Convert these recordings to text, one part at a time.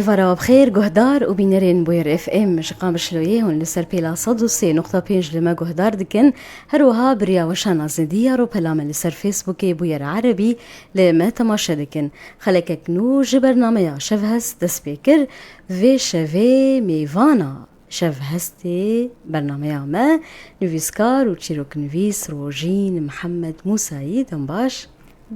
Êvara we bi xêr guhdar û bînerên Bûyerê FM ji Qamişloyê hûn li ser pêla sed û sê noqta pênc li me guhdar dikin. Her wiha bi riya weşan a Zindiyar û pela me li ser Fêsbûkê Bûyera Erebî li me temaşe dikin. Xelekek nû ji bernameya Şevhest dest pê kir. Vê şevê mêvana Şevhestê bernameya me nivîskar û çîroknivîs Rojîn Mihemed Mûsayî. Dem baş.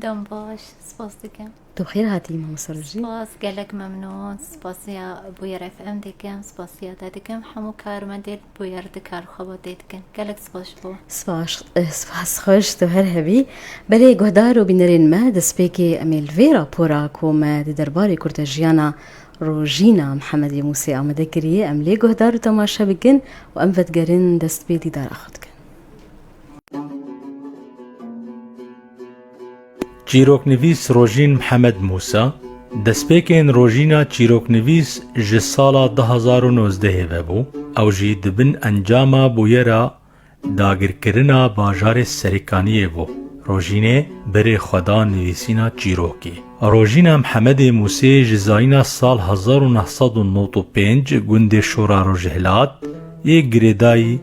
Dem baş. Spas dikim. Tu xêr hatî Mamosta Rojî. Spas gelek memnûn spasiya Bûyer FM dikim, spasiya te dikim, hemû karmendên Bûyer di kar xwe bo tê dikin. Gelek spas ji bo. Spas spas xweş tu her hebî. Belê guhdar û bînerên me destpêkê em ê li vê rapora ku me di derbarê kurtejiyana Rojîna Mihemedê Mûsê amade kiriye em lê guhdar û temaşe bikin û em vedigerin dest pê dîdara xwe dikin. Çîroknivîs Rojîn Mihemed Mûsa, Destpêkên Rojîna Çîroknivîs ji sala du hezar û nozdehê ve bû, ew jî di bin encama bûyera dagirkirina bajarê Serêkaniyê bû. Rojînê bi rê xwe da nivîsîna çîrokê. Rojîna Mihemedê Mûsê ji zayîna sal hezar û neh sed û nod û pênc gundê Şora Rojhilat yê girêdayî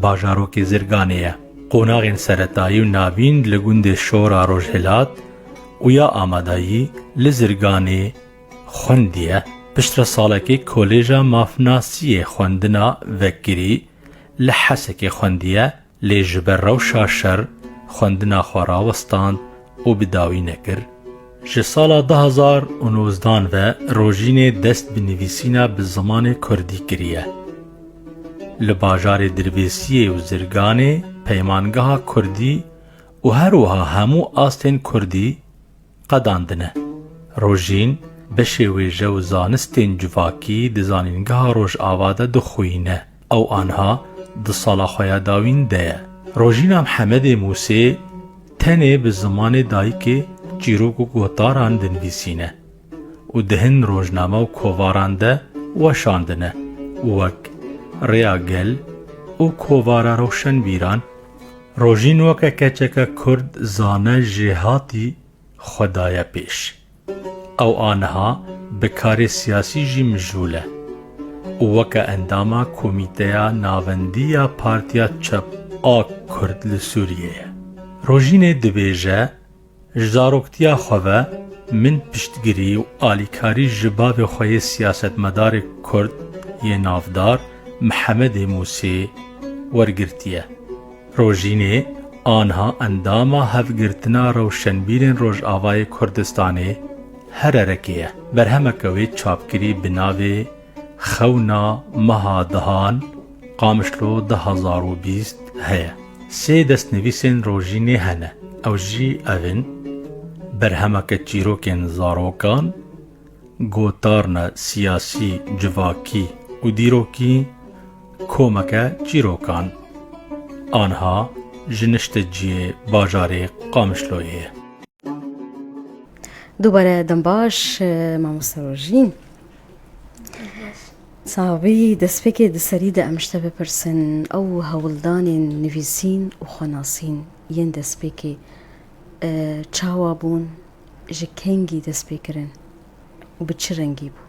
bajarokê Zirganê ye. Qonaxên seretayî û navîn li gundê Şora Rojhilat û ya Amadayî li Zirganê xwendiye. Piştre salekê Kolêja Mafnasiyê xwendina vekirî li Hesekê xwendiye lê ji ber rewşa şer xwendina xwe rawestand û bi dawî nekir, ji sala du hezar û nozdan ve rojînê dest bi nivîsîna bi zimanê kurdî kiriye. Li bajarê Dirbêsiyê û Zirganê peymangeha kurdî û her wiha hemû astên kurdî qedandine. Rojîn beşê wêje û zanistên civakî di zanîngeha Rojava de dixwîne. Ew anha di sala xwe ya dawîn de ye. Rojîna Mhemedê Musê tenê bi zimanê dayikê çîrok û gotaran dinvîsîne û di hin rojname û kovaran de weşandine û wek Rêya Gel û Kovara Rewşenbîran Rojîn weke keçeke kurd zane jêhatî xwe daye pêş. Ew aniha bi karê siyasî jî mijûl e û weke endama Komîteya Navendî ya Partiya Çep a Kurd li Sûriyeyê Rojînê dibêje, Ji zaroktiya xwe ve min piştgirî û alîkarî ji bavê xwe yê siyasetmedarê Kurd yê navdar Mihemedê Mûsê wergirtiye. Rojînê, anha endama Hevgirtina Rewşenbîrên Rojavayê Kurdistanê, HRRK'ê ye. Berhemeke wê çapkirî bi navê Xewna Meha Dihan, Qamişlo du hezar û bîst heye. Sê destnivîsên Rojînê hene. Ew jî ev in, Berhemeke çîrokên zarokan, Gotarna siyasî, civakî û dîrokî komeke çîrokan a niha ji nişte ciyê bajarê Qamişloyê ye. Dubare dem baş mamoste Rojîn. Sabî destpêkê di serî de em ji te bipirsin ew hewldanên nivîsîn û xwenasîn yên destpêkê çawa bûn? Ji kengî dest pê kirin û bi çi rengî bû?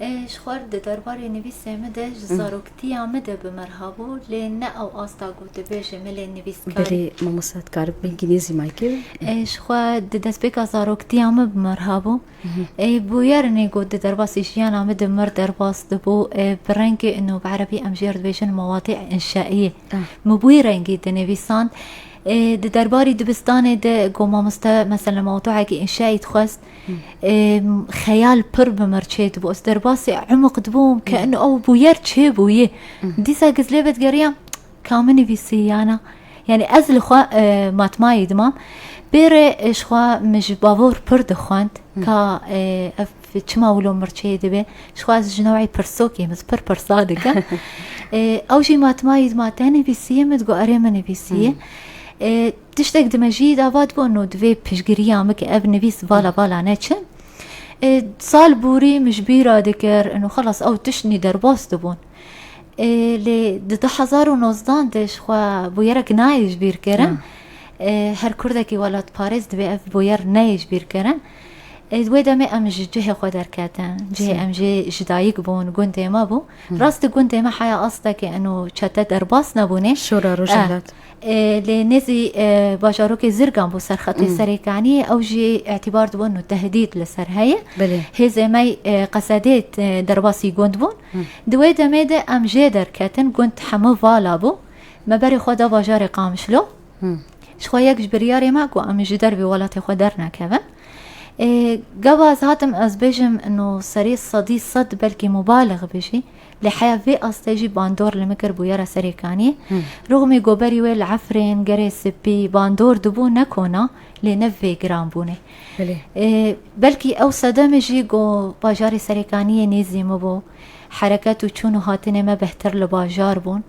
Ji xwe re di derbarê nivîsê min de ji zaroktiya min de bi min hebû lê ne ew asta ku tu bêjî min lê nivîskarî. Belê mamosta tu karibû îngîlîzî ma kir. Ji xwe di destpêka zaroktiya min bi min hebû. Bûyerinê ku di derbasî jiyana min di mir derbas dibû bi rengê û bi erebî em jê re dibêjin mewatê înşaîyê min bûyî rengî dinivîsand. Di derbarî dibistanê de ku mamoste mesela mewduekî înşaî dixwest xeyal pir bi mir çê dibû ez derbasî emuq dibûm ke in ew bûyer çê bûyî dîsa giz lê vedigeriyam ka min nivîsiyana yani ez li xwe matmayî dimam bêrê ji xwe min ji bavor pir dixwend ka ev Tu çima wilo mirçeyê dibê? Ji xwe ez ji newê pirsokê min pir pirsa dikim. Ew jî ma tima yî ma te nivîsiyê min digot erê min nivîsiyê. Tiştek dime jî dava digot no divê pişgiriya min ki ev nivîs vala vala neçin. Sal bûrî min ji bîra dikir û xelas ew tiştnî derbas dibûn. Lê di du hezar û nozdan de ji xwe bûyerek nayê ji bîr kirin. Her kurdekî welatparêz divê ev bûyer neyê ji bîr kirin. Di wê demê em ji cihê xwe derketin. Cihê em jê ji dayik bûn, gundê me bû. Rast di gundê me heya astekê û çete derbas nebûnê. Şora Rojhilat. Lê nêzî bajarokê Zirgan bû ser xetê serê Kaniyê. Ew jî îtîbar dibûn û tehdît li ser heye. Hêzê me qesedê derbasî gund bûn. Di wê demê de em jê derketin. Gund hemû vala bû. Me berê xwe da bajarê Qamişlo. Ji xwe yek ji biryarê me ku em ji dervê welatê xwe dernekevin. Gava ez hatim ez bêjim no serê sedî sed belkî mubalix bijî lê heya vê astê jî bandor li min kir bûyera serêkanî. Rûxmê goberî wê li Efrên, Gerê Sipî bandor dibû ne kona lê ne vê giranbûnê. Belkî ew sedemê jî ku bajarê serêkaniyê nêzî min bû. Hereket û çûn û hatinê me bêhtir li bajar bûn.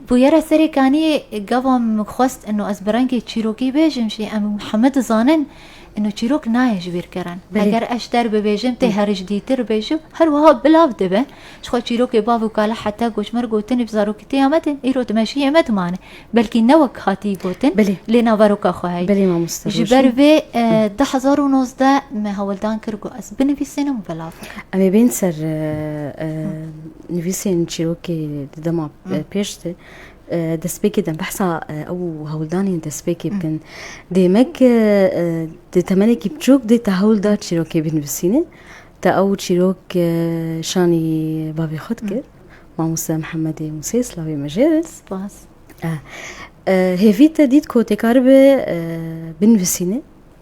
Bûyera serê kaniyê gava min xwest ino ez bi rengê çîrokî bêjim jî em heme dizanin ino çîrok nayê ji bîr kirin. Eger ez ji der bibêjim tê herijdîtir bê jû her wiha bilav dibe. Jixwe çîrokê bav û kala heta goçmer gotinî bi zarokîtiya me tên îro di mejiyê me dimane. belkî ne wek hatî gotin Belê. lê naveroka xwe heye. Belê mamoste Ji Rojîn. ber vê eh, du hezar û nozdeh me hewldan kir ku ez binivîsînim û belav bikim. Em ê bên ser e, e, nivîsên çîrokê di dema e, pêş de e, destpêkê dem behsa e, ew û hewldanên destpêkê bikin. Dê me ki e, di temenekî biçûk dê te hewl da çîrokê binivîsîne. Te ew çîrok e, şanî bavê xwe dikir. Mamoste Mihemedê Musê slavê me jê be. Spas. Hêvî te dît ku têkaribe binivîsîne,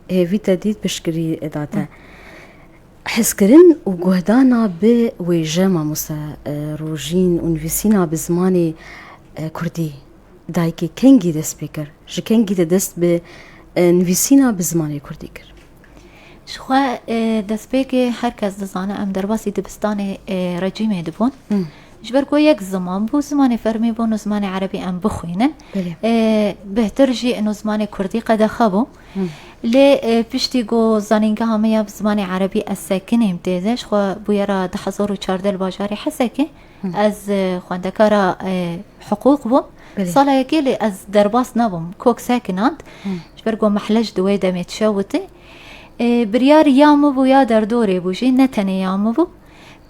hêvî te dît piştgirî da te. Hizkirin û guhdana bi wêje mamoste rojîn û nivîsîna bi zimanê kurdî dayikê kengî dest pê kir? Ji kengî te dest bi nivîsîna bi zimanê kurdî kir? Ji xwe destpêkê her kes dizane em derbasî dibistanê recîmê dibûn. Ji ber ku yek ziman bû, zimanê fermî bûn û zimanê erebî em bixwînin. Bêhtir jî ino zimanê kurdî qedexe bû. Lê piştî ku zanîngeha me ya bi zimanê erebî ez sekinîm tê de, ji xwe bûyera du hezar û çardeh li bajarê Hesekê. Ez xwendekara hiqûq bûm. Sala yekê lê ez derbas nebûm. Kok sekinand. Ji ber ku mehle ji di wê demê dişewitî. Biryar ya min bû ya derdorê bû jî ne tenê ya min bû.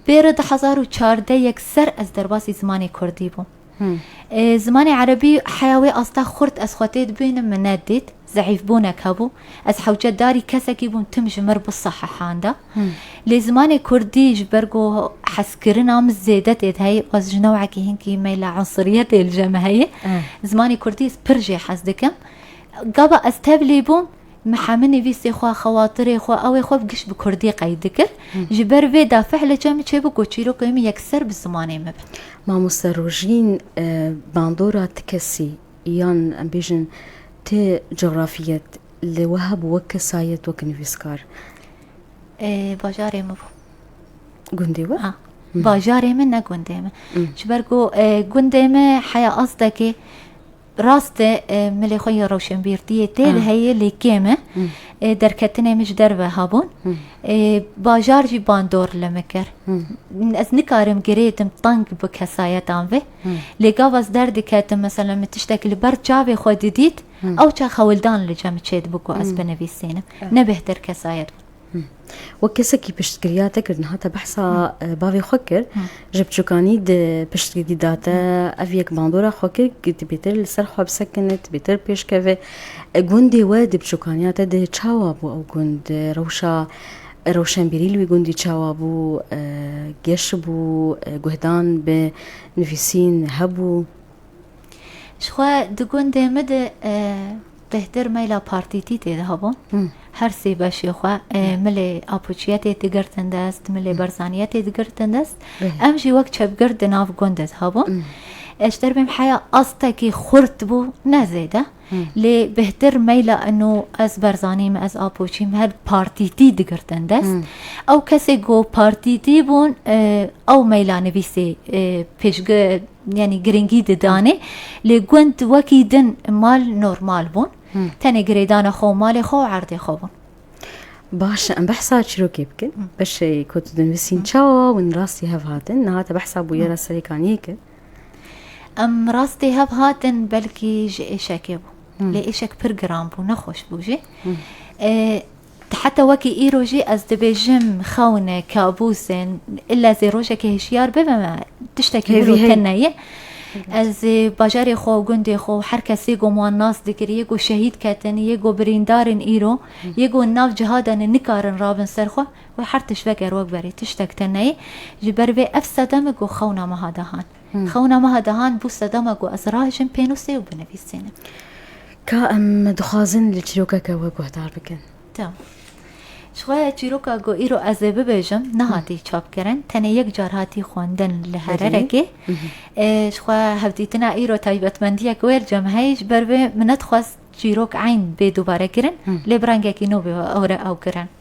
Pêre du hezar û çardeh yekser ez derbasî zimanê kurdî bûm. Zimanê erebî heya wê asta xurt ez xwe tê dibînim min nedît. Zehîfbûnek hebû. Ez hewcedarî kesekî bûm tim ji mir bi sahihanda. Lê zimanê kurdî ji ber ku hezkirina min zêde tê de heye û ez ji newekî hinkî meyla unsiriyetê li je me heye, zimanê kurdî ez pir jê hez dikim. Gava ez tevlî bûm, me hemû nivîsê xwe, xewatirê xwe, ewê xwe bi giş bi kurdî qey dikir. Ji ber vê de fehlê çav min çêbû ku çîrokên min yekser bi zimanê min bin. Mamoste Rojîn, bandora ti kesî Yan em bêjin ti cografiyet li we hebû wek kesayet, wek nivîskar? Bajarê min bû. Gundê we? Ha. Bajarê min ne gundê min. Ji ber ku gundê me heya astekê rast e milê xwe yê rewşenbîrtiyê tê de heye lê kêm e. Derketinê min ji derve hebûn. Bajar jî bandor li min kir. Ez nikarim girêdim teng bi kesayetan vê. Lê gav ez derdiketim mesela min tiştekî li ber çavê xwe didît ewça xewildan li cem çêdibû ku ez binivîsînim. Ne bêhtir kesayet bû. Wek kesekî piştgiriya te kir niha te behsa bavê xwe kir ji biçûkanî di piştgirî da te ev yek bandora xwe kir ku tu bêtir li ser xwe bisekine tu bêtir pêşkeve gundê we di biçûkaniya te di çawa bû ew gund rewşa Rewşenbîrî li wî gundî çawa bû, geş bû, guhdan bi nivîsîn hebû? Ji xwe di gundê min de bêhtir meyla partîtî tê de hebû. Her sê beşê xwe milê Apoçiye tê digirtin dest, milê Berzaniye tê digirtin dest. Em jî wek çepgird di nav gundê de hebûn. Ji derbê min heya astekî xurt bû ne zêde. Lê bêhtir meyla eno ez Berzanî me, ez Apoçî me her partîtî digirtin dest. Ew kesê ku partîtî bûn ew meyla nivîsê pêşgi yanî giringî didanê lê gund wekî din mal normal bûn. Tenê girêdana xwe û malê xwe û erdê xwe bûn. Baş e em behsa çîrokê bikin. Beşê ku tu dinivîsîn çawa win rastî hev hatin nihate behsa bûyera serêkaniyê kir. Em rastî hev hatin belkî ji êşekê bû. Lê êşek pir giran bû, nexweş bû jî. Heta wekî îro jî ez dibêjim xewne kabûsên illa zê rojekê hişyar bibim e tiştekî hêvî te neye. Ez bajarê xwe û gundê xwe û her kesê ku wan nas dikir yê ku şehîd ketin yê ku birîndarên îro yê ku nav cihada ne nikarin rabin ser xwe Wê her tişt veger wek berê, tiştek te neyê. Ji ber vê ev sedeme ku xewna me hate han. Xewna me hate han bû sedema ku ez rahişim pênûsê û binivîsînim. Ka em dixwazin li çîrokeke we guhdar bikin. Tim. Ji xwe ya çîroka ku îro ez ê bibêjim nehatî çapkirin. Tenê yek car hatî xwendin li Hererekê. Ji xwe ya hevdîtina îro taybetmendiyek wê li cem heye. Ji ber vê min nedixwest çîrok eyn bê dubare kirin. Lê bi rengekî nû bê ew re ew kirin.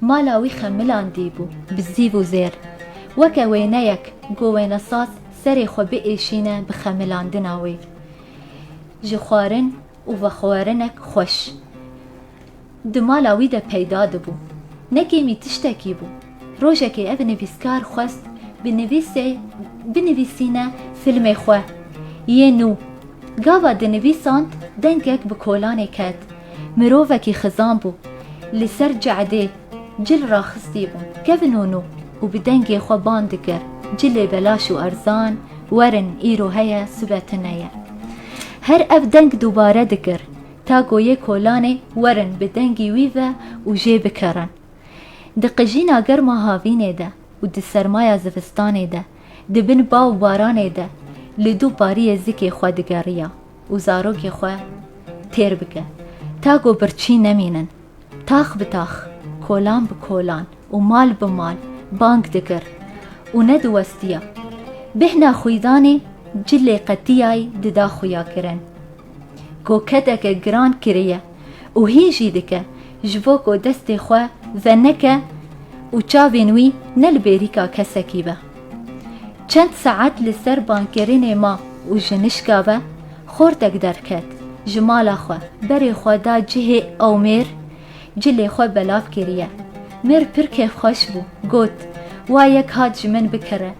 Mala wî xemilandî bû bi zîv û zêr. Weke wêneyek ku wênesaz serê xwe biêşîne bi xemilandina wê ji xwarin û vexwerinek xweş di mala wî de peyda dibû. Ne kêmî tiştekî bû. Rojekê ev nivîskar xwest bi nivîsê binivîsîne filmê xwe yê nû. Gava dinivîsand dengek bi kolanê ket. Mirovekî xizan bû. Li ser cadê cil raxistîbûn. Kevin û nû û bi dengê xwe bang dikir, Cilê belaş û erzan, werin, îro heye, sibe tune ye. Her ev deng dubare dikir, ta ku yê kolanê werin bi dengî wî ve û jê bikerin. Di qijîna germa havînê de û di sermaya zivistanê de, di bin ba û baranê de li du pariyê zikê xwe digeriya. û zarokê xwe têr bike ta ku birçî nemînin. Tax bi tax, kolan bi kolan û mal bi mal bang dikir û nediwestiya. Bêhna xwîdanê cilê qetiyayî dida xwiyakirin. Koketeke giran kiriye û hîn jî dike ji bo ku destê xwe veneke û çavên wî ne li bêrîka kesekî be. Çend saet li ser bankirinê ma û ji nişka ve xortek derket. Ji mala xwe berê xwe da cihê ew mêr cilê xwe belav kiriye. Mêr pir kêfxweş bû, got, Wa yek hat ji min bikire.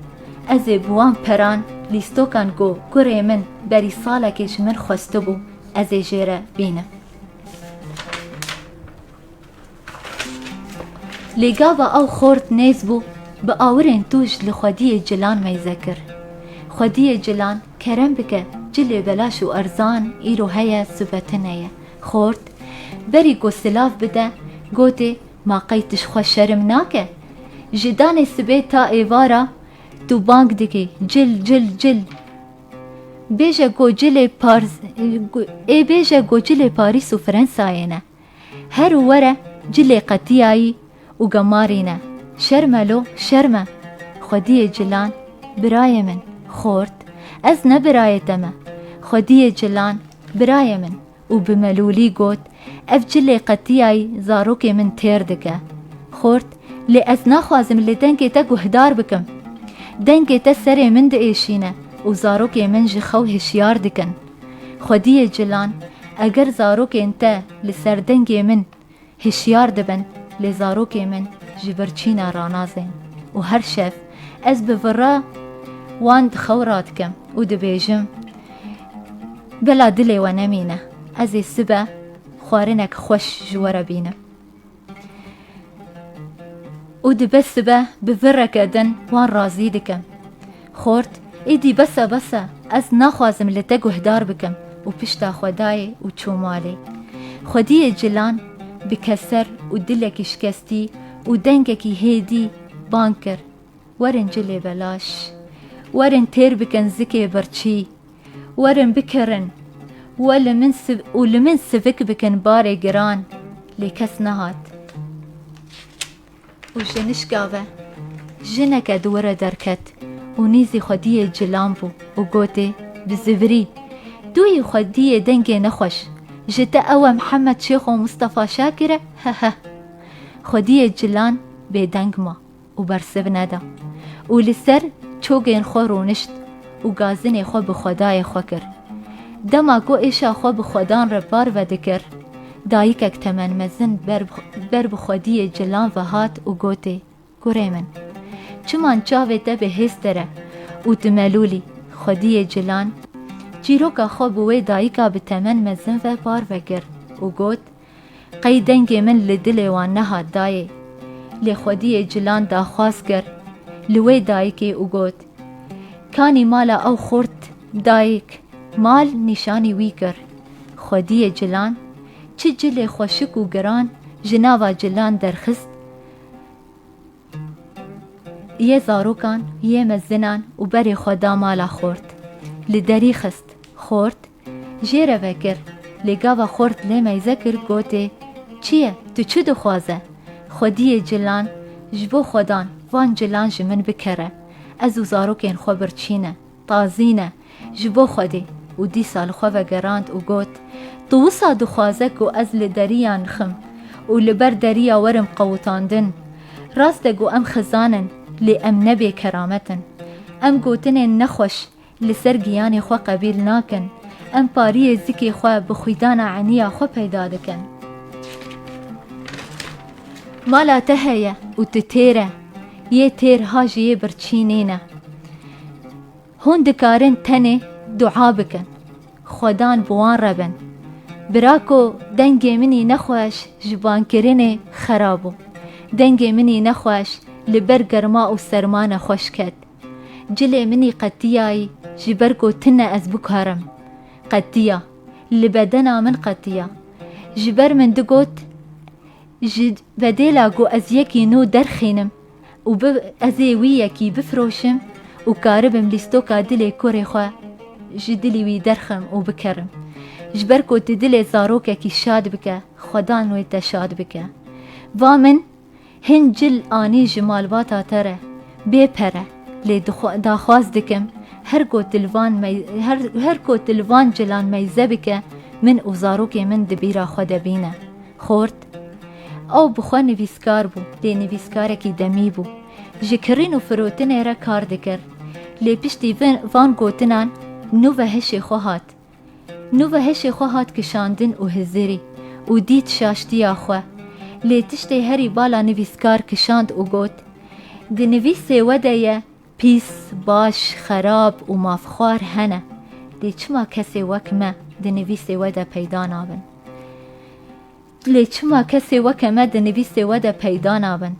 Ez ê bi wan peran lîstokan ku kurê min berî salekê ji min xwestibû, ez ê jê re bînim. Lê gava ew xort nêz bû, bi awirên tûj li xwediyê cilan meyze kir. Xwediyê cilan, kerem bike, cilê belaş û erzan îro heye sivetine ye. Xort, berî ku silav bide, gotê, Ma qey tu ji xwe şerm nake? Ji danê sibê ta êvara tu bang dikî, cil, cil, cil. Bêje ku cilê Pars, ê bêje ku cilê Parîs û Frensayê ne. Her û were cilê qetiyayî û gemarî ne. Şerme lo, şerme! Xwediyê cilan, birayê min, xort, ez ne birayê te me. Xwediyê cilan, birayê min! û bi melûlî got, Ev cilê qetiyayî zarokê min têr dike. Xort, lê ez naxwazim li dengê te guhdar bikim. Dengê te serê min diêşîne û zarokê min ji xew hişyar dikin. Xwediyê Cilan, Eger zarokên te li ser dengê min hişyar dibin, lê zarokê min ji vir çîna ranazên û her şev ez bi vira wan di xew radikim û dibêjim Bila dilê we nemîne, ez ê sibe xwarinek xweş ji we re bînim. Û dibe sibe bi vireke din wan razî dike. Xort, Êdî bes e bes e, ez naxwazim li te guhdar bikim û pişta xwe dayê û çû malê. Xwediyê Cilan bi keser û dilekî şikestî û dengekî hêdî bang kir, Werin cilê belaş. Werin têr bikin zikê birçî. Werin bikirin we li min û li min sivik bikin barê giran lê kes nehat û ji nişka ve jineke di were derket û nîzî xwediyê cilan bû û gotê bi zivirî Duyî xwediyê dengê nexweş ji te ew e Mihemed Şêxo Mistefa Şakir e heheh. Xwediyê cilan bêdeng ma. û bersiv neda û li ser çogên xwe rûnişt û gazinê xwe bi xwedayê xwe kir. Dema ku êşa xwe bi xwedan re par vedikir, dayikek temen mezin ber bi xwediyê cilan ve hat û gotê, Kurê min! Çiman çavê te bi hêz te re û tu melûlî! Xwediyê cilan çîroka xwe bi wê dayika bi temen mezin ve par vekir û got, Qey dengê min li dilê wan nehat dayê. Lê xwediyê Cilan daxwaz kir li wê dayikê û got, Kanî mala ew xurt dayik mal nîşanî wî kir. Xwediyê Cilan çi cilê xweşik û giran ji nava Cilan derxist yê zarokan yê me zinan û berê xwe da mala xurt. Li derî xist. Xurt Jê re vekir, lê gava xort lê meyze kir gotê, Çi ye, tu çi dixwaze? Xwediyê cilan, ji bo xwedan, van cilan ji min bikere. Ez û zarokên xwe birçîne, tazîne, ji bo xwedê. Û dîsa li xwe vegerand û got, Tu wisa dixwaze ku ez li deriya nixim û li ber deriya werim qewitandin? Rast e ku em xizan in, lê em ne bêkeramet in. Em gotinên nexweş, Li ser giyanê xwe qebîl nakin. Em pariyê zikê xwe bi xwîdana eniya xwe peyda dikin. Mala te heye û tu têr e. Yê têr ha ji yê birçî nêne. Hûn dikarin tenê dua bikin. Xwedan bi wan re bin. Birako dengê minî nexweş ji bankirinê xerab bû. Dengê minî nexweş li ber germa û serma nexweş ket. Cilê minî qetiyayî ji ber ku ti ne ez bikarim. Qetiya. Li bedena min qetiya. Ji ber min digot ji bedêla ku ez yekî nû derxînim û bi ez ê wî yekî bifiroşim û karibim lîstoka dilê korê xwe ji dilî wî derxim û bikerim. Ji ber ku tu dilê zarokekî şad bike, xwedan wê te şad bike. Va min Hin cil anî ji malbata te re bê pere lê daxwaz dikim her ku tu li van her ku tu li van cilan meyze bike min û zarokê min di bîra xwe de bîne. Xort Ew bi xwe nivîskar bû lê nivîskarekî demî bû. Ji kirîn û firotinê re kar dikir. Lê piştî van gotinan nû ve hişê xwe hat. Nûve heşê xwe hat kişandin û Hizirî û dît şaştiya xwe. Lê tiştê herî bala nivîskar kişand û got, Di nivîsê we de ye pîs, baş, xerab û mafxwar hene. Lê çima kesê wek me di nivîsê we de peyda nabin? Lê çima kesê weke me di nivîsê we de peyda nabin?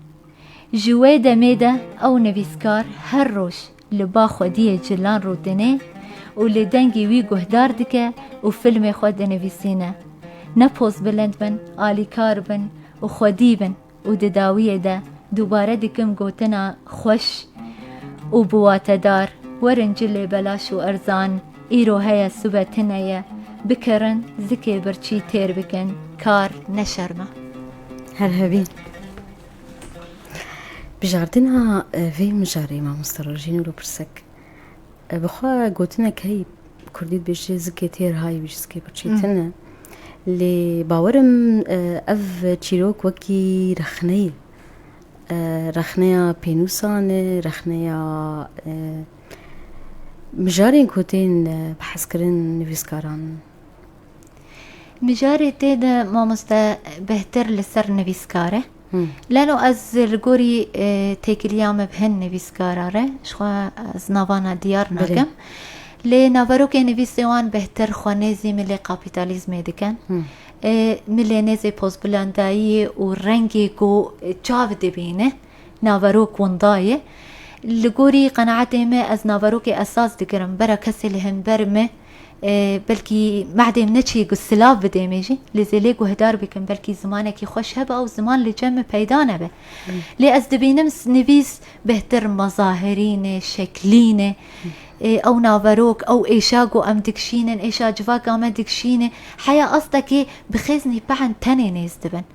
Ji wê demê de ew nivîskar her roj Li ba xwediyê cilan rûdine û li dengê wî guhdar dike û filmê xwe dinivîsîne. Ne pozbilind bin, alîkar bin û xwedî bin û di dawiyê de dubare dikim gotina xweş û bi watedar, Werin ci lê belaş û erzan, îro heye sibe tine ye, bikirin zikê birçî têr bikin kar, neşerme. Her hebî. Bijardina vê mijarê mamoste Rojîn û pirsek bi xwe gotinek heyî Kurdî dibêje zikê têr hay wî ji zikê birçî tune. Lê bawerim ev çîrok wekî rexneyê rexneya pênûsan e, rexneya mijarên ku tên behs kirin nivîskaran in. Mijarê tê de mamoste bêhtir li ser nivîskar e. Leno ez li gorî têkiliya me bi hin nivîskara re ji xwe ez navana diyar nakim. Lê naverokê nivîsê wan bêhtir xwe nêzî milê kapîtalîzmê dikin. Milê nêzê pozbilandayiyê û rengê ku çav dibîne naverok winda ye. Li gorî qenaetê me ez naverokê esas digirim bera kesê li hember me. Belkî mehdê min ne çi ku silav bidê me jî lê zêlê guhdar bikim belkî zimanekî xweş hebe ew ziman li cem min peyda nebe. Lê ez dibînim nivîs bêhtir mazahirîne, şeklîne. Ew naverok, ew êşa ku em dikişînin, êşa civaka me dikişîne heya astekê bi xêznî pehn tenê nêz dibin.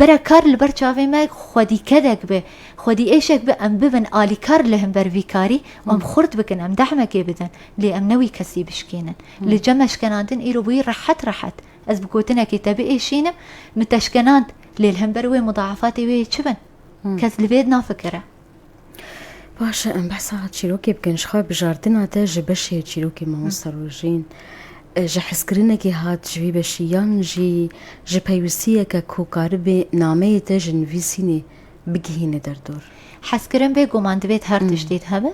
Bera kar li ber çavê me xwedîkedek be, xwedîêşek be em bibin alîkar li hember vî karî û em xurt bikin, em dehmekê bidin lê em ne wî kesî bişkînin. Li cem eşkenandin îro bûyî rehet rehet. Ez bi gotinekê te biêşînim, min te eşkenand lê li hember wê mudaefatê wê yê çi bin? Kes li vê nafikire. Baş e, em behsa çîrokê bikin. Ji xwe bijardina te ji beşê çîrokê mamosta Rojîn ji hezkirinekê hat ji vî beşî yan jî ji peywistiyeke ku karibê nameyê te ji nivîsînê bigihîne derdor? Hezkirin bêguman divêt her tiştî hebe.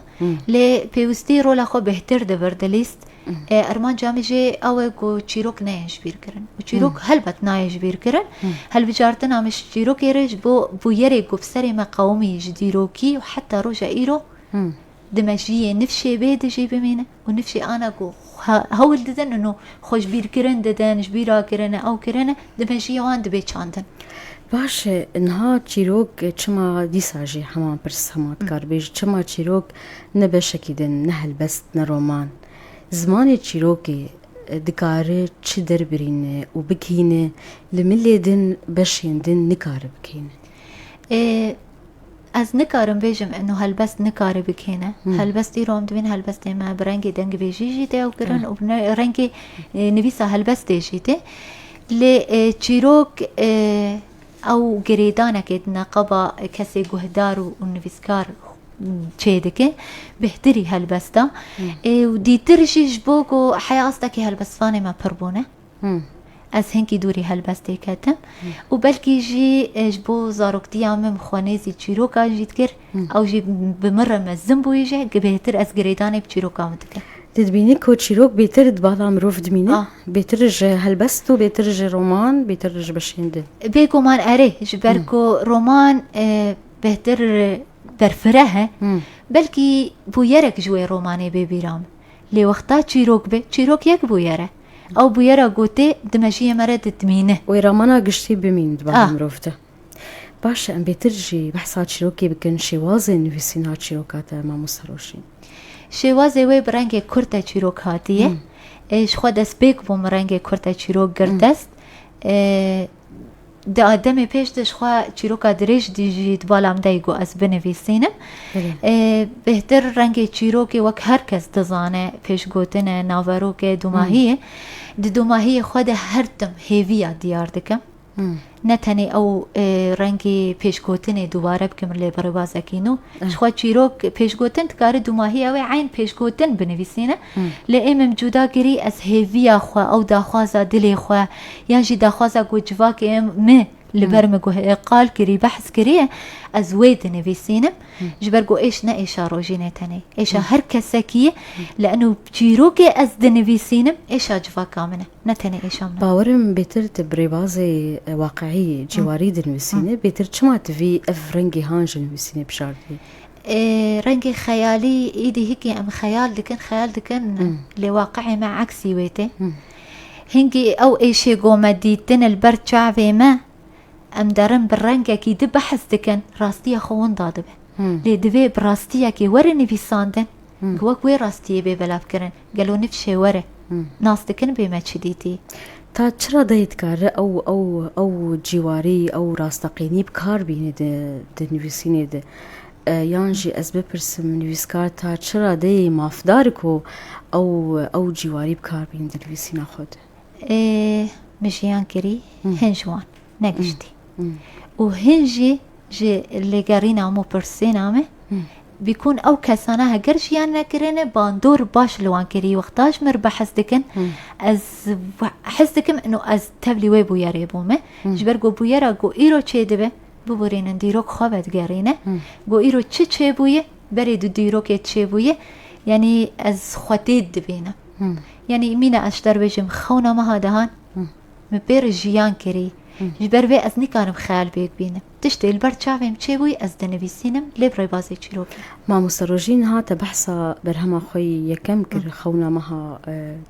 Lê pêwistî rola xwe bêhtir dibir, dilîst Armanca min jî ew e ku çîrok neyên ji bîr kirin û çîrok helbet nayê ji bîr kirin. Hilbijartina min ji çîrokê re ji bo bûyerê ku bi serê me qewimî ji dîrokî û heta roja îro di mejiyê nifşê bê di jî bimîne û nifşê ana ku hewl didin û xwe ji bîr kirin didin, ji bîra kirine, ew kirine di mejiyê wan dibê çandin. Baş e, niha çîrok çima dîsa jî heman pirs, heman dikarbêj, çima çîrok Ne beşekî din, ne helbest, ne roman. Zimanê çîrokê dikare çi derbirîne û bigihîne, li milê din beşên din nikare bikihîne. Ê ez nikarim bêjim eno helbest nikare bikihîne. Helbest îro em dibîn helbestê me bi rengê dengvêjî jî tê ew kirin û bi rengê nivîsa helbestê jî tê. Lê çîrok Ew girêdanekê di neqaba kesê guhdar û nivîskar çê dike, bêhtirî helbest e û dîtir jî ji bo ku heya astekî helbestvanê me pir bûne. Ez hinkî dûrî helbestê ketim û belkî jî ji bo zaroktiya min bi xwe nêzî çîrokan jî dikir. Ew jî bi min re mezin bûyî jî bêhtir ez girêdanê bi çîroka min dikim. Tu dibînî ku çîrok bêtir di bala mirov dimîne, bêtir ji helbest û bêtir ji roman, bêtir ji beşên din. Bêguman erê, ji ber ku roman bêhtir berfireh e, belkî bûyerek ji wê romanê bê bîra min. Lê wexta çîrok be, çîrok yek bûyer e. Ew bûyera gotê di mejiyê me re didmîne. Wê ramana giştî bimîn di bala mirov de. Baş e em bêtir jî behsa çîrokê bikin, şêwazên nivîsîna çîroka te mamosta Roşîn. Şêwazê wê bi rengê kurt e çîrok hatiye. Ji xwe destpêk bûm rengê kurt e çîrok girt dest. Di demê pêş de ji xwe çîroka dirêj dî jî di bala min de yî got ez binivîsînim. Bêhtir rengê çîrokê wek her kes dizane pêşgotin e, naverok e, domahî ye. Di domahiyê xwe de her tim hêviya diyar dikim. Ne tenê ew rengê pêşgotinê dubare bike min lê bi rêbazekî nû. Ji xwe çîrok pêşgotin dikare dumahî ew ê eyn pêşgotin binivîsîne. Lê ê min cuda kirî ez hêviya xwe ew daxwaza dilê xwe yan jî daxwaza ku civakê min li ber min qal kirî behs kiriye ez wê dinivîsînim. Ji ber ku êş ne êşa rojî ne tenê êşa her kesekî ye. Li enû çîrokê ez dinivîsînim êşa civaka min e. ne tenê êşan be. Bawer im bêtir ti bi rêbazê waqîî cîwarî dinivîsînî, bêtir çima ti vî ev rengê han ji nivîsînê bişardî? Rengê xeyalî, îdî hikî em xeyal dikin, xeyal dikin lê waqîî me eksî wê tê. Hingî ew êşê ku me dîtin li ber çavê me, em derin bi rengekî di behs dikin, rastiya xwe winda dibe. Lê divê bi rastiyekê were nivîsandin ku wek wê rastiyê bê belavkirin. Gelo niv şêwer e? Nas dikin bê me çi dîtî? Ta çi ra dayê dikare ew ew ew cîwarî, ew rasteqînî bi kar bînî di di nivîsînê de? Yan jî ez bipirsim nivîskar ta çi ra dayê mafdar e ku ew ew cîwarî bi kar bînî di nivîsîna xwe de? Ê, min jiyan kirî hin ji wan. negiştî û hin jî ji lêgerîna hemû pirsgêna me bîkun ew kesana heger jî yan nekirine bandor baş li wan kirî wexta ji min re behs dikin ez hes dikim ino ez tevlî wê bûyerê bûme ji ber ku bûyera ku îro çê dibe biborînin dîrok xwe vedigerîne ku îro çi çêbûye berê di dîrokê çêbûye yanî ez xwe dît dibînim yanî mîna ez ji te re bêjim xewna meha dehan Min pê re jiyan kirî. Ji ber vê ez nikarim xeyal bê bibînim. Tiştê li ber çavên çê bûy ez dinivîsînim lê bi rêbazê çîrokê. Mamoste Rojîn niha te behsa berhema xwe yî yekem kir xewna meha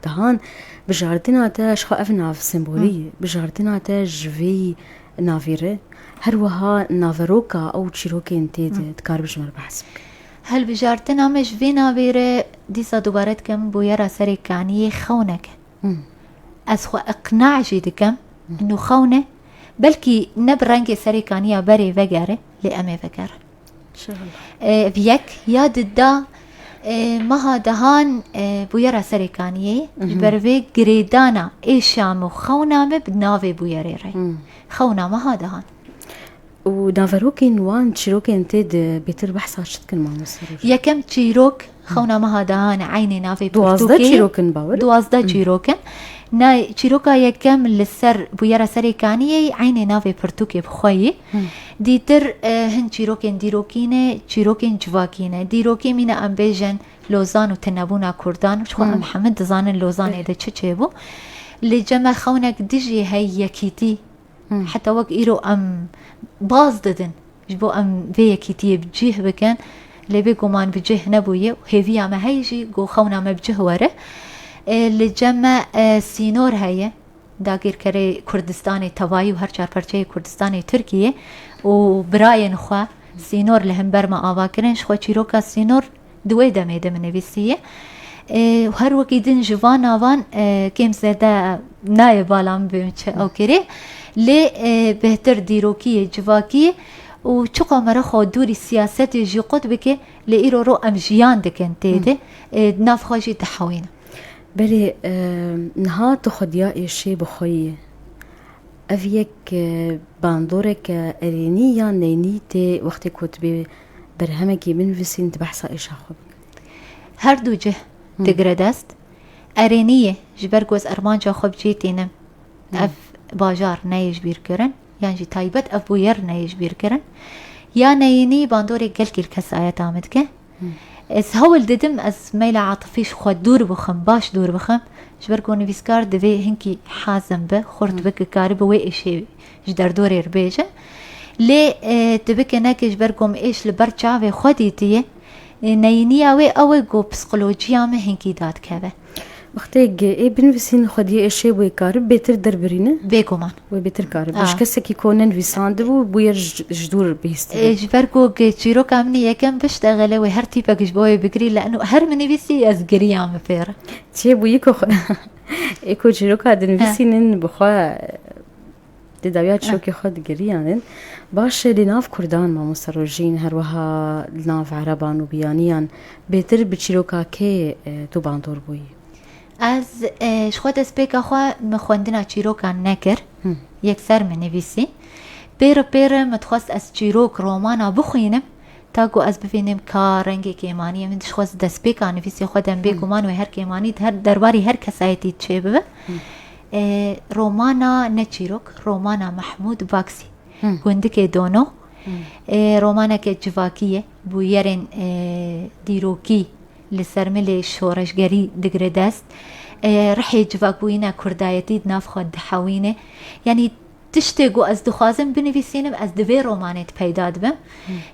dihan. Bi jardina te ji xwe ev nav sembolî ye. Bi jardina te ji vê navê re her wiha naveroka ew çîrokên tê de dikaribî ji min behs bikî. Hilbijardina me ji vê navê re dîsa dubare dikim bûyera serê kaniyê xewneke. Ez xwe iqna jî dikim ino xewn e, belkî ne bi rengê serê kaniya berê vegere lê em ê vegerin. Ev yek ya di da meha dehan bûyera serê kaniyê ji ber vê girêdana êşam û xewna me bi navê bûyerê re. Xewna meha dehan. Û naverokên wan çîrokên tê de bêtir behsa çi dikin mamoste Roj? Yekem çîrok xewna meha dehan e eynê navê Duwazdeh pirtûkê. çîrok in bawer e? Duwazdeh çîrok in. Na çîroka yekem li ser bûyera serê kaniyê yî eynê navê pirtûkê bi xwe yî. Dîtir hin çîrokên dîrokî ne, çîrokên civakî ne. Dîrokî mîne em bêjin Lozan û tunebûna Kurdan. Ji xwe em hemû dizanin Lozanê de çi çêbû. Li cem e xewnek dijî hey yekîtî. Heta wek îro em baz didin ji bo em vê yekîtiyê bi cih bikin lê bêguman bi cih nebûye û hêviya me heye jî ku xewna me bi cih were. Li cem me sînor heye dagîrkerê Kurdistanê tevayî û her çar parçeyê Kurdistanê Tirkiyê û birayên xwe sînor li himber me ava kirin ji xwe çîroka sînor Di wê demê de min nivîsiye û her wekî din ji van navan kêm zêde nayê bala min bê min çi ew kirê lê bêhtir dîrokiyê civakî û çiqo me re xwe dûrî siyasetê jî qut bike lê îro ro em jiyan dikin tê de nav xwe jî dihewînin. Belê niha tu xwediya êşê bi xwe yî. Ev yek bandoreke erênî yan neynî tê wextê ku tu bê berhemekî binivîsîn di behsa êşa xwe bikin. Her du cih digire dest, erênî ye ji ber ku ez armanca xwe bi cê tînim ev bajar neyê ji bîr kirin yan jî taybet ev bûyer neyê ji bîr kirin ya neyînî bandorê gel kêrkesayeta min dike. Ez hewl didim ez meyla atifî ji xwe dûr bixim, baş dûr bixim ji ber ku nivîskar divê hinkî hazim bi, xurt bi ku karibi wê êşê Ji derdorê re bêjin. Lê tu bike neke ji ber ku em êş li ber çavê xwe dîtiye, neyîniya wê ew e ku psîkolojiya me hinkî dadikeve. Wextêk ê binivîsîn xwediyê êşê wê karib bêtir derbirîne? Bêguman. Wê bêtir karib. Ji kesekî ku nenivîsandibû bûye ji dûr bihîstibe. Ji ber ku çîroka min ê yekem bişte xele wê her tîpek ji bo wê bigirî li her min nivîsî ez giriyam li pêre. Çêbûyî ku xwe. ê ku çîroka dinivîsînin bi xwe di dawiya çîrokê xwe digiriyanin baş e lê nav kurdan mamosta rojîn her wiha li nav ereban û biyaniyan bêtir bi çîroka kê e, tu bandor bûyî Ez e, ji xwe destpêka xwe min xwendina çîrokan nekir yekser min nivîsî pêre pêre min dixwest ez çîrok romana bixwînim Ta ku ez bivînim ka rengê kêmaniyê min dişxwest destpêka nivîsê xwe dem bê guman wê her kêmanî her derbarî her kesayetî çê bibe. Romana ne çîrok, romana Mehmûd Vaksî. Gundikê Dono. Romaneke civakî ye, bû yerên dîrokî li ser milê şoreşgerî digire dest. Rihê civakbûyîna kurdayetî di nav xwe dihewîne. Yanî Tiştê ku ez dixwazim binivîsînim ez di vê romanê de peyda dibim.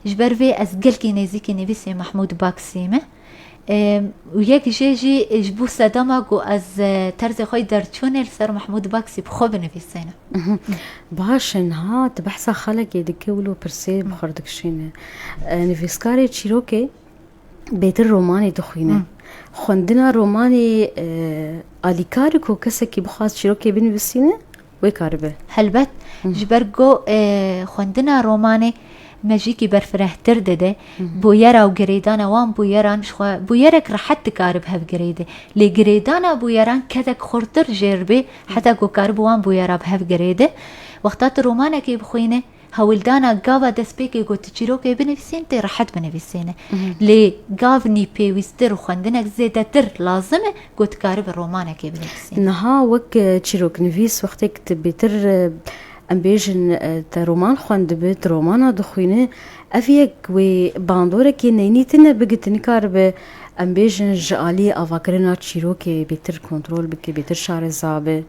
Ji ber vê ez gelkî nêzîkî nivîsê Mahmûd Baksî me. Û yek jê jî ji bo sedema ku ez terzê xwe yê derçûnê li ser Mahmûd Baksî bi xwe binivîsînim. Baş e niha tu behsa xelekê dikî wilo pirsê bi xwe re dikişînî. Nivîskarê çîrokê bêtir romanê dixwîne. Xwendina romanê alîkar e ku kesekî bixwaz çîrokê binivîsîne? wê karibe. Helbet ji ber ku xwendina romanê mejîkî berfirehtir dide bûyera û girêdana wan bûyeran ji xwe bûyerek rehet dikarib hev girêde. Lê girêdana bûyeran kedek xurtir jêr bê heta ku karib wan bûyera bi hev girêde. Wexta tu romanekê bixwîne. Hewildana gava destpêkê ku tu çîrokê binivîsîn tê rehet binivîsîn e. Lê gavnî pêwîstir û xwendinek zêdetir lazim e ku tu karibî romanekê binivîsîn. Niha wek çîroknivîs wextêk tu bêtir em bêjin te roman xwendibi, tu romana dixwîni ev yek wê bandorekê neynî tune bigi tu nikaribi em bêjin ji aliyê avakirina çîrokê bêtir kontrol bike, bêtir şarezabi.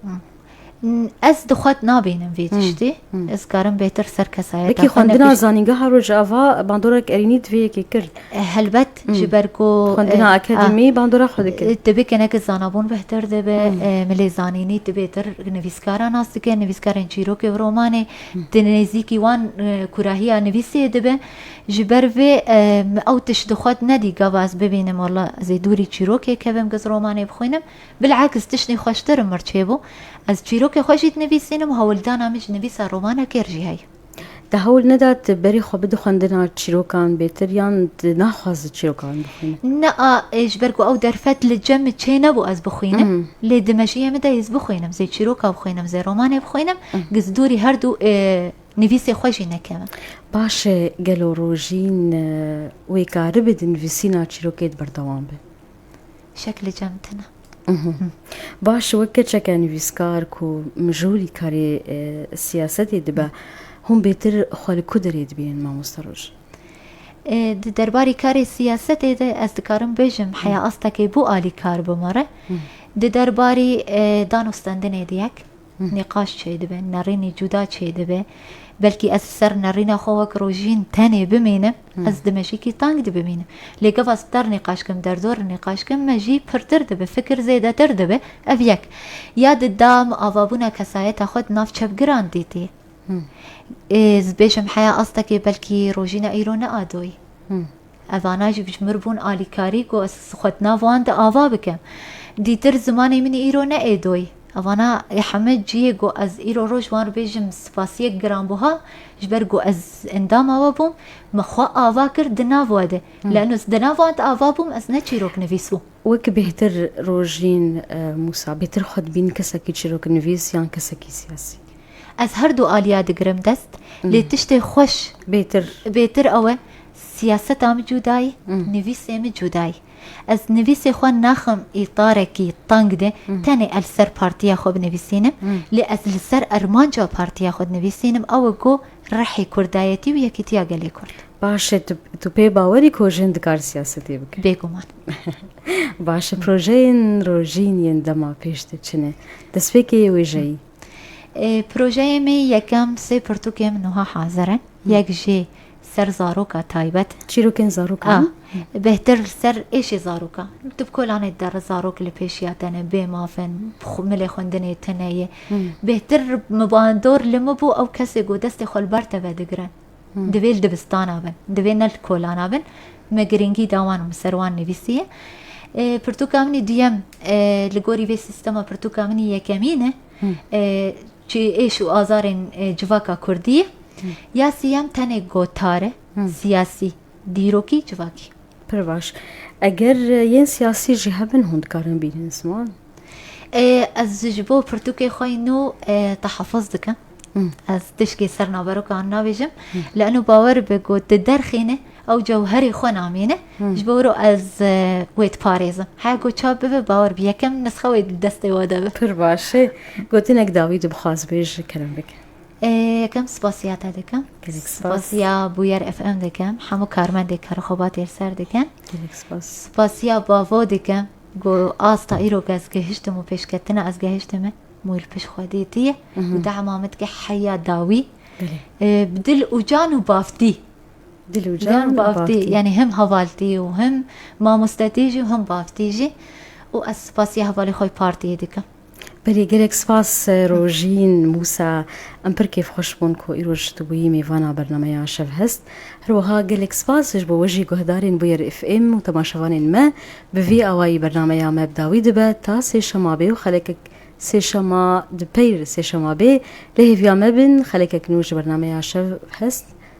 Ez di xwet nabînim vê tiştî. Ez karim bêtir ser kesayeta Wekî xwendina zanîngeha Rojava bandorek erînî divê yekê kir. Helbet ji ber ku xwendina akademî bandora xwe dikir. Divê keneke zanabûn bêhtir dibe, milê zanînî divê tir nivîskara nas dike, nivîskarên çîrokê û romanê di nêzîkî wan kurahiya nivîsê dibe. Ji ber vê min ew tişt di xwet nedî gava ez bibînim wala zêdûrî çîrokê kevim giz romanê bixwînim. Bil'aks tiştên xweştir im mir çêbû. Ez çîrokê xwe jî dinivîsînim, hewldana min ji nivîsa romana kêr jî heye. Te hewl neda tu berî xwe bidî xwendina çîrokan bêtir yan tu naxwazî çîrokan bixwînî? Naa, ji ber ku ew derfet li cem min çênebû ez bixwînim, lê di mejiyê min de ez bixwînim, zê çîroka bixwînim, zê romanê bixwînim, giz dûrî her du nivîsê xwe jî nekevim. Baş e, gelo rojîn wê karibe di nivîsîna çîrokê de berdewam be? şekli cem tene. Baş wek keçeke nivîskar ku mijûlî karê siyasetê dibe, hûn bêtir xwe li ku derê dibînin mamoste Roj? Di derbarê karê siyasetê de ez dikarim bêjim heya astekê bû alîkar bû me re. Di derbarê danûstendinê di yek. Nîqaş çêdibe, nerînê cuda çêdibe. Belkî ez li ser nerîna xwe wek rojîn tenê bimînim, ez dimeşikî teng dibimînim. Lê gava star nîqaş kim, derdor nîqaş kim me jî pirtir dibe, fikir zêdetir dibe. Ev yek. Ya di dam avabûna kesayeta xwe di nav çepgiran dîtî. Ez dibêjim heya astekê belkî rojîna îro neadoyî. Ev ana jî bijimir bûn alîkarî ku ez xwe di nav wan de ava bikim. Dîtir zimanê min îro ne êdoy. Ev ana ê heme cihê ku ez îro roj wan re bêjim spasiyek giranbuha ji ber ku ez endama we bûm, min xwe ava kir di nav we de. Lano ez di nav wan de ava bûm, ez ne çîrok nivîs bûm. Wek bêhtir Rojîn Mûsa, bêhtir xwe dibîn kesekî çîroknivîs yan kesekî siyasî? Ez herdu aliya digirim dest, lê tiştê xweş bêhtir ew e, Siyaseta min cudayî, nivîsê min cudayî. Ez nivîsê xwe naxim îtarekî teng de tenê el ser partiya xwe binivîsînim, lê ez li ser armanca partiya xwe dinivîsînim, ew e ku rihê kurdayetî û yekîtiya gelê kurd. Baş e, tu tu pê bawer î ku jin dikar siyasetê bike? Bêguman. Baş e, projeyên rojîn yên dema pêş de çi ne? Destpêkê yê wêjeyî? Projeyê me yekem sê pirtûkê min wiha hazir in. Yek jê Ser zaroka taybet. Çîrokên zarokan. A. Bêhtir li ser êşê zarokan. Tu bi kolanê te re zarok li pêşiya te ne, bê maf in, milê xwendinê te ne ye. Bêhtir min ba dor li min bû ew kesê ku destê xwe li ber te vedigire. Divê li dibistana bin. Divê ne li kolana bin. Me girîngî da wan û min ser wan nivîsiye. Pirtûka min ê duyem li gorî vê sîstema pirtûka min ê yekemîn e. Çi êş û azarên civaka kurdî ye ya siyem tenê gotar e, siyasî, dîrokî, civakî. Pir baş. Eger yên siyasî jî hebin hûn dikarin bînin ziman? Ez ji bo pirtûkê xwe yî nû tehaffuz dikim. Ez tişkê ser naverokan nabêjim. Li eno bawer be ku di derxîne Ew cewherê xwe namîne, ji bo wiro ez wê diparêzim. Heya ku çav bibe, bawer bike yekem nisxe wê di destê we de be. Pir baş e. Gotinek dawî tu bixwaz bê ji kirin bike? Yekem spas ya te dikim. Gelek spas. Spas ya Bûyer FM dikim. Hemû karmendê Kara Xwebatê li ser dikim. Gelek spas. Spas ya bavo dikim ku asta îro ku ez gihiştim û pêşketina ez gihiştime mûy li pişt xwe dîtiye û dema min dike heya dawî. Belê. Bi dil û can û bavtî. Dilucan û Baftî yanî him hevaltî û him mamostetî jî û him baftî jî û ez spasiya hevalê xwe yê partiyê dikim. Belê gelek spas Rojîn Mûsa. Em pir kêfxweş bûn ku îroj tu bûyî mêvana bernameya Şevhest. Her wiha gelek spas ji bo we jî guhdarên Bûyer FM û temaşevanên me. Bi vî awayî bernameya me bi dawî dibe ta sêşema bê û xelekek sêşema di peyr sêşema bê. Lê hêviya me bin xelekek nû ji bernameya Şevhest